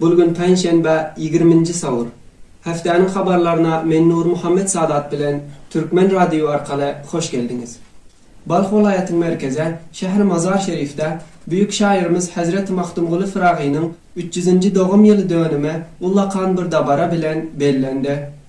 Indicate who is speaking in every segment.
Speaker 1: Bu gün penşenbe ýigriminji sawur. Hepdäniň habarlaryna men Nurmuhammet Sadat bilen Türkmen radioý arkaly hoş geldiňiz. Balh welaýatyň merkeze şäheri Mazar Şerifde büýük şaýyrymyz Hezreti Magtymguly Fyragynyň üç ýüzinji dogum ýyly dönümi ullakan bir dabara bilen bellendi.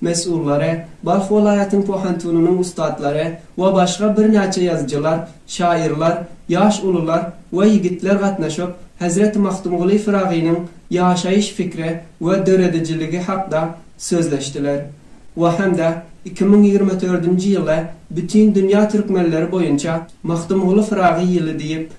Speaker 1: mesullary, Balh welaýatyň pohantynynyň ussatlary we başga birnäçe ýazyjylar, şaýyrlar, ýaş ulular we ýigitler gatnaşyp, Hezreti Magtymguly Pyragynyň ýaşaýyş pikri we döredijiligi hakda sözleşdiler we hem-de iki müň ýigrimi dördünji ýyly Bütindünýä türkmenleri boýunça Magtymguly Pyragy ýyly diýip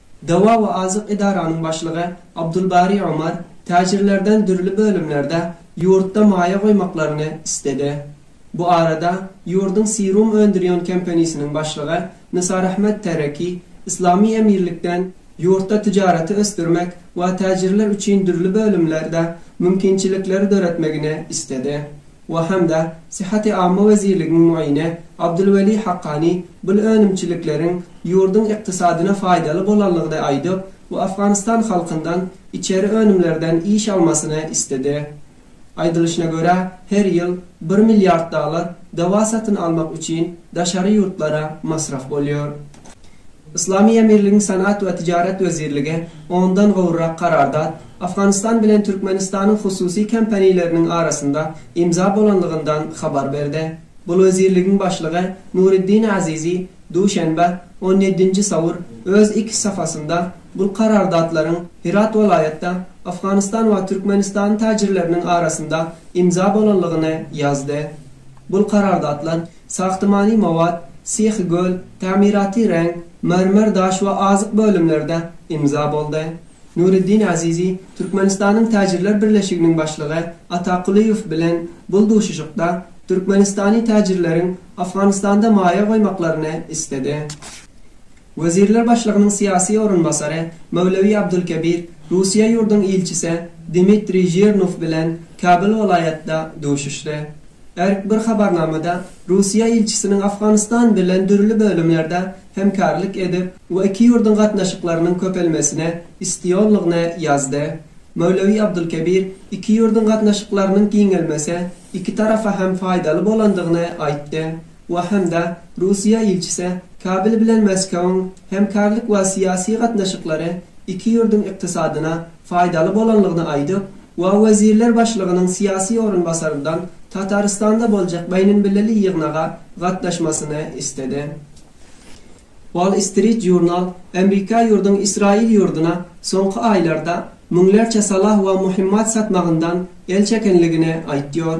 Speaker 1: Dawa we azyk edaranyň başlygy Abdulbari Omar täjirlerden dürli bölümlerde ýurtda maýa goýmaklaryny isledi. Bu arada ýurduň Serum öndürýän kompenisiniň başlygy Nisarahmet Tereki Yslamy Emirlikden ýurtda tijaraty ösdürmek we täjirler üçin dürli bölümlerde mümkinçilikleri döretmegini isledi. we hem-de Syhhaty Amma wezirligiň mugyny Abdulweli Hakkani bul önümçilikleriň ýurduň ykdysadyna faýdaly bolanlygyny aýdyp we Afganystan halkyndan içeri önümlerden iş almasyny isledi. Aýdylyşyna görä, her ýyl bir milliard dollar dawa satyn almak üçin daşary ýurtlara masraf bolýar. Yslamy Emirligiň Senat we Tijaret wezirligi ondan gowrak karardat Afganystan bilen Türkmenistanyň hususy kompaniýleriniň arasynda imza bolanlygyndan habar berdi. Bu wezirligiň başlygy Nuriddin Azizi duşenbe, on ýedinji sawur, öz X safasynda bul karardatlaryň Hirat welaýatda Afganystan we Türkmenistan täjirleriniň arasynda imza bolanlygyny ýazdy. Bul karardatlar Sahtimany mowat, sehi göl, tamiraty reň, mermer daş we azyk bölümlerde imza boldy. Nureddin Azizi Türkmenistanyň Täjirler birleşiginiň başlygy Ata Kulyýew bilen bul duşuşykda türkmenistany täjirleriň Afganistanda maýa goýmaklaryny isledi. Wezirler başlygynyň syýasy orunbasary Möwlewi Abdulkebir Russiýa ýurduň ilçisi Dmitriý Žirnow bilen Kabul welaýatda duşuşdy. Erk bir habarnamada Russiýa ilçisiniň Afganystan bilen dürli bölümlerde hemkarlyk edip we iki ýurduň gatnaşyklarynyň köpelmesine istiýonlygyny ýazdy. Möwlewi Abdulkebir iki ýurduň gatnaşyklarynyň giňelmese iki tarafa hem faýdaly bolandygyny aýtdy. we hem-de Russiýa ilçisi Kabel bilen Moskowyň hemkärlik we syýasy gatnaşyklary iki ýurduň ykdysadyna faýdaly bolanlygyny aýdyp we wezirler başlygynyň syýasy orunbasaryndan Tatarystanda boljak beýnemilli ýygnaga gatnaşmasyny istedi. Wall Street Journal Amerika ýurduň Ysraýyl ýurduna soňky aýlarda müňlerçe salah we muhimmat satmagyndan el çekenligini aýtýar.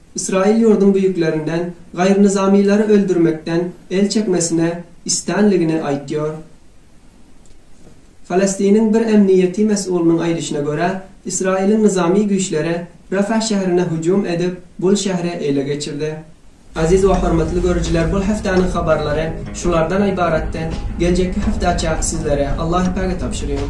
Speaker 1: Ysraýyl ýurduň büýüklerinden gaýrynyzamylary öldürmekden el çekmesine istanligini aýtýar. Falastiniň bir emniýeti mes'ulynyň aýdyşyna görä, Ysraýylyň nyzamy güýçleri Rafah şäherine hüjüm edip, bul şähri ele geçirdi. Aziz we hormatly görüjiler bul heftaniň habarlary şulardan ybaratdy, geljekki heftaça sizlere Allahypäge tabşyrýan.